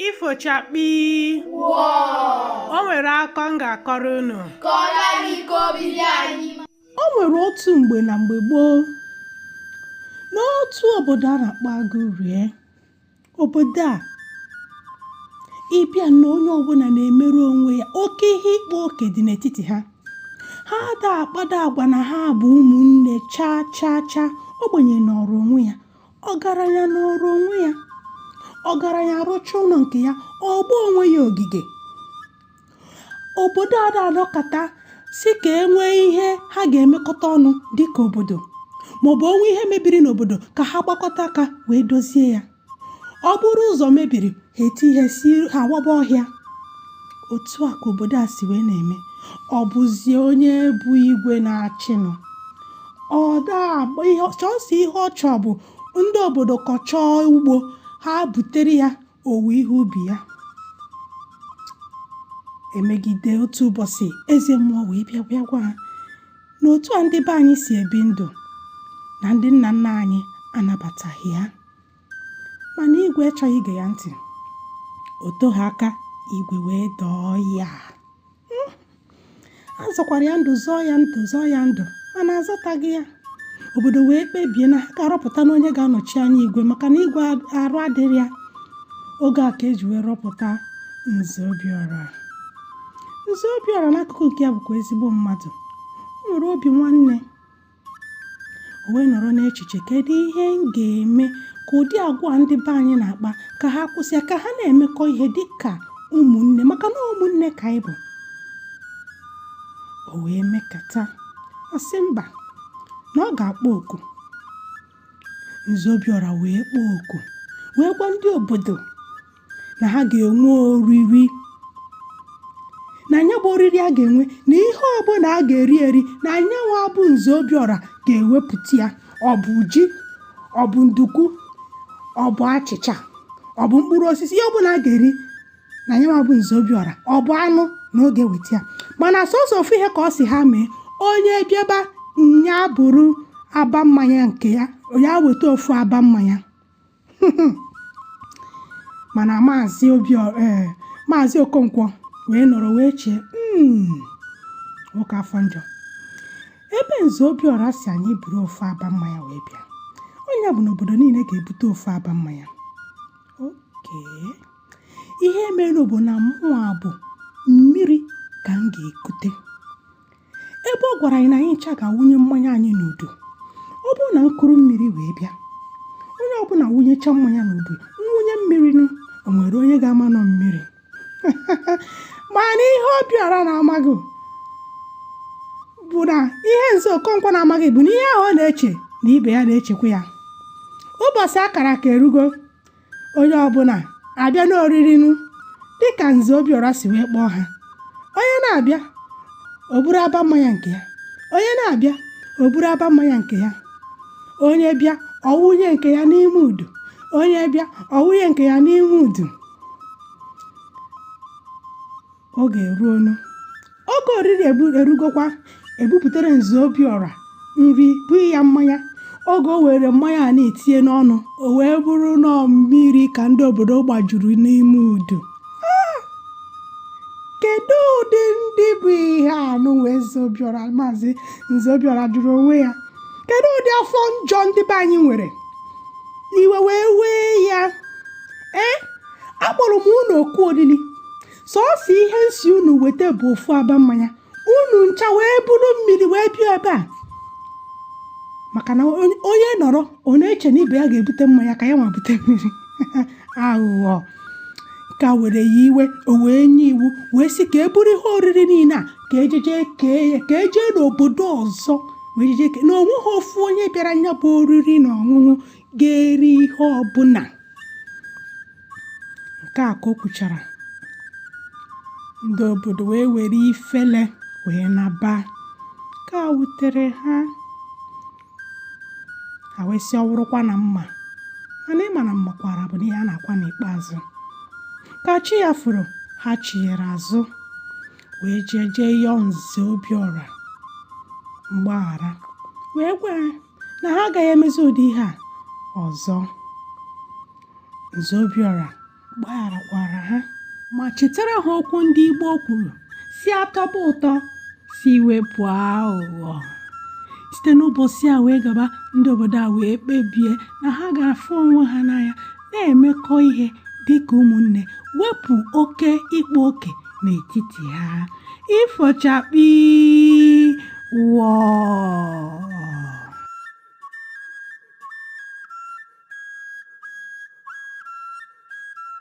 ifo chakpii o nwere akọ m ga-akọrọ unu o nwere otu mgbe na mgbe gboo n'otu obodo a na-akpọ Agụrie obodo a ị bịa na onye ọbụla na-emere onwe ya oke ihe ịkpa oke dị n'etiti ha ha ada akpado agwa na ha bụ ụmụnne chaa chaa chaa ogbenye nọrọ onwe ya ọgaranya nọrọ onwe ya ọgaranya arụcha ụlọ nke ya ọ gbaa onwe ya ogige obodo ada anọkọta sị ka e nwee ihe ha ga-emekọta ọnụ dịka obodo maọbụ o nwee ihe mebiri n'obodo ka ha gbakọta aka wee dozie ya ọ bụrụ ụzọ mebiri ha etinye isi ha waba ọhịa otu a ka obodo a si wee na-eme ọ bụzie onye bụ igwe na-achịnụ ọ da-agba ihe sọsọ ihe ọ chọọ bụ ndị obodo kọchaa ugbo ha butere ya owuwe ihe ubi ya emegide otu ụbọchị eze mmụọ wee bịa bịa gwa ha na otu a ndị be anyị si ebi ndụ na ndị nna nna anyị anabataghị ya mana igwe achọghị ige ya ntị o teghị aka igwe wee daa ọya hmm. a zọkwara ya ndụ zọọ ya ndụ zọọ ya ndụ mana a zọtaghị ya obodo wee kpebie na ha ga-arọpụta na onye ga-anọchi anya igwe maka na igwe arụ adịrị ya oge a ka e ji wee rọpụta nze obiọra nze obiọra n'akụkụ nke ya bụkwa ezigbo mmadụ o nwere obi nwanne o wee nọrọ n'echiche kedu ihe m ga-eme ka ụdị agwa ndị be anyị na-akpa ka ha kwụsị ya ka ha na-emekọ ihe dị ka ụmụnne maka na ụmụnne ka anyị bụ o wee mekata ọ sị mba na ọ ga-akpọ oku nze obiọra wee kpọọ oku wee gwa ndị obodo na ha ga-enwe oriri na nya bụ oriri a ga-enwe na ihe ọbụla a ga-eri eri na anyanwụ abụ nze obiọra ga-ewepụta ya ọ bụ ji ọ bụ nduku ọ bụ achịcha ọ bụ mkpụrụ osisi ihe ọbụla a ga-eri na nya nwa bụ nze obiọra ọ bụ anụ na ọ ga-eweta ya mana sọsọ ofu ihe ka ọ sị ha mee onye bịaba nya buru aba mmanya nke ya nya weta ofu aba mmanya mana maazị obi eh, maazị okonkwo wee nọrọ wee chee hmm, nwoke afọ njọ ebe nze obiọra sị anyị buru ofu aba mmanya wee bịa nya bụ na obodo niile ga-ebute ofu aba mmanya okay ihe mere bụ na mụwa ọ bụ mmiri ka m ga-ekute ebe ọ gwara anyị na anyị ncha ga-awụnye mmanya anyị n'udu ọ bụrụ na m kuru mmiri wee bịa onye ọbụla wụnyecha mmanya n'udu m wụnye mmiri nụ o nwere onye ga-ama na ọ mmiri mana ihe obiọra na-amaghị bụ na ihe nze okonkwo na-amaghị bụ na ihe ahụ ọ na-eche na ibe ya na-echekwa ya ụbọchị a kara aka erugo onye ọbụla abịa n'oriri nụ dịka nze obiọra si wee kpọọ ha onye na-abịa o buru aba mmanya nke ya onye na-abịa o buru aba mmanya nke ya onye bịa ọ wụnye nke ya n'ime udu onye bịa ọ wụnye nke ya n'ime udu oge eruo nụ oge oriri erugokwa e bupụtara nze obiọra nri bunye ya mmanya oge o were mmanya a na-etinye n'ọnụ o wee bụrụ na mmiri ka ndị obodo gbajuru n'ime udu ah! kedu ụdị ndị bụ ihe a nụ wee nze obiọra maazị nze obiọra jụrụ onwe ya kedu ụdị afọ njọ ndị be anyị nwere iwe wee wee ya ee eh? akpọrọ m unu oku olili sọọsọ ihe m sị unu weta bụ ofu aba mmanya unu ncha wee buru mmiri wee bịa ebe a maka na onye nọrọ ọ na-eche na ibe ya ga-ebute mmanya ka ya nwa bute mmiri aghụghọ nke a were ya iwe o wee nye iwu wee sị ka e buru ihe oriri niile a ka e jeje kee ya ka e jee n'obodo ọzọ wee jeje kee na o nweghị ofu onye bịara nya bụ oriri na ọṅụṅụ ga-eri ihe ọbụla nke a ka o kwuchara ndị obodo wee were ifele wee naba nke a wutere ha ha wee sị ọ wụrụkwa na m ma mana ị ma na mmakwara bụ n'ihe a na-akwa n'ikpeazụ ka chi ya foro ha chiyere azụ wee jee jee yọọ nze obiọra mgbaghara wee gwa na ha agaghị emezi ụdị ihe a ọzọ Nze Obiọra gbagharakwara ha ma chetara ha okwu ndị Igbo kwuru sị a tọba ụtọ si wepụ aghụghọ site n'ụbọchị a wee gaba ndị obodo a wee kpebie na ha ga-afụ onwe ha n'anya na-emekọ ihe dị ka ụmụnne wepụ oke ịkpa oke n'etiti ha ifo chakpii wọọ